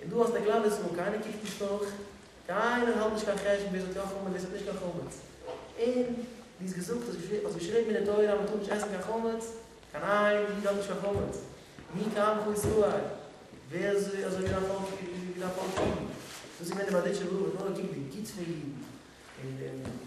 און דו האסט א קלאנער זאל, קיינער קוקט נישט נאך, קיינער האלט נישט קיין חשבון ווער האט יא חמץ ווער האט נישט קיין חמץ, און ווי איז געזאגט, האסט געשריבן אין די תורה אז מען טאר נישט עסן קיין חמץ, קיין איין איד האט נישט קיין חמץ, מי כעמך ישראל, ווער איז אזוי ווי דיין פאלק ווי דיין פאלק אידן, דאס איז געווען די באדיטשער בראך וואס נאר געקוקט די גוטס פון אידן, און.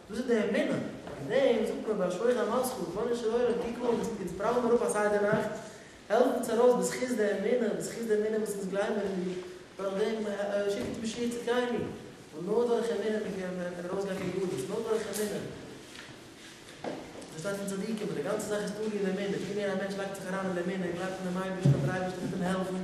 דאס איז די אמונה, אויף דעם זאגט מען ביי שלוחי המסחר, רבונו של עולם קוק אן, אונז פראווען מיר אויף א סדר נאכט, העלף אונז ארויס בזכות די אמונה, בזכות די אמונה וואס אונז גלייבן אין דיר, דורך דעם שיק אונז משיח צדקינו, ווייל נאר דורך אמונה מען קען ארויסגיין פון גלות, נאר דורך אמונה. דאס שטייט אין צדיקים אז די גאנצע זאך איז תלוי אין אמונה, ווי מער א מענטש לייגט זיך אריין אין אמונה און גלייבט אין דעם אייבערשטן אז דער אייבערשטער וועט אים העלפן,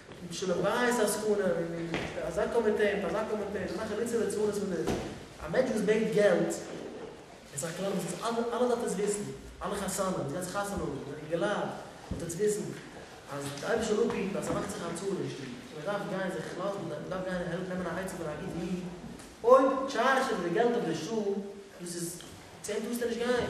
און שלום בית עסקנים, און פאר אזא קאמיטעי, און פאר אזא קאמיטעי, און אזא חליצה ליצנות וואס דאס. א מענטש וואס בענקט געלט, עס איז א כלל וואס עס אלע אלע דארף עס וויסן, אלע חתנים וואס גייען זיך חתונה האבן, אינגעלייט, דארף עס וויסן, אז די אייבערשטער זאל אפהיטן אז ער מאכט זיך א צרה אין שטוב, און מען דארף גיין זיך לאזן, מען דארף גיין העלפן נעמען א עצה פון א גוטן איד, אויב טשארזשט ער מיט די געלט אויף די שעה, דאס איז, צו אים טארסטו נישט גיין.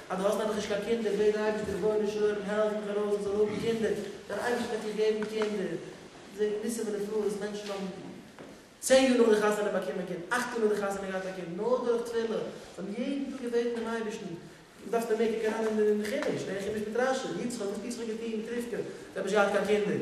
אז דו האסט נעבעך נישט קיין קינדער, בעט די אייבערשטער רבונו של עולם העלף מיך ארויס איך זאל האבן קינדער, דער אייבערשטער וועט דיר געבן קינדער, מען זעט ניסים ונפלאות, מענטשן האבן צען יאר נאך די חתונה באקומען קינד, אכט יאר נאך די חתונה געהאט א קינד, נאר דורך תפילה, זיי האבן יעדן טאג געבעטן דעם אייבערשטן, דו דארפסט מער קוקן אריין אין חומש, לערן חומש מיט רשי, יצחק וואס פיצחק האט געטון מיט רבקה, זיי האבן נישט געהאט קיין קינדער,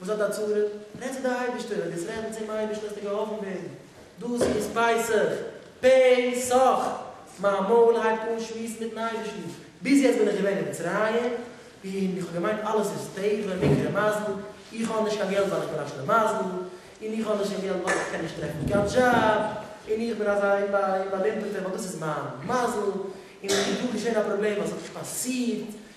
וואס האט א צרה? רעד צו די אייבישטער, ווען דאס רעדן צום אייבישטער וועסטו געהאלפן ווערן. דאס איז פסח! פ' סח! מיין מויל הייבט אן שמועסן מיטן אייבישטן. ביז יעצט בין איך געווען אין מצרים, און איך האב געמיינט אלעס איז טבע, מקרה מזל, איך האב נישט קיין געלט ווייל איך בין א שלימזל, און איך האב נישט קיין געלט ווייל איך קען נישט טרעפן קיין דזשאב, און איך בין אזא אומבאלימפערטער ווייל דאס איז מיין מזל, און עס איז דא געשען א פראבלעם אז ס'האט נישט פאסירט,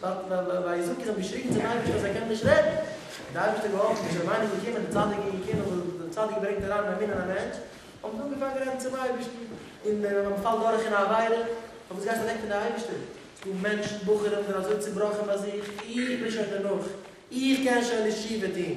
וויי זאגט ער האט געשריגן צום אייבערשטער אז ער קען נישט רעדן, האט די אייבערשטער געהאלפן איז רבנו געקומען די צדיק איז געקומען וואס די צדיק ברענגט אריין א מין אין א מענטש, האבן זיי אנגעפאנגען רעדן צום אייבערשטן, און ווען מען פאלט דורך אין א עבירה, האט עס געהייסן אוועק פון די אייבערשטער, ס'דא מענטשן בחורים זענען אזוי צובראכן ביי זיך, איך בין שוין דערנאך, איך קען שוין נישט תשובה טון.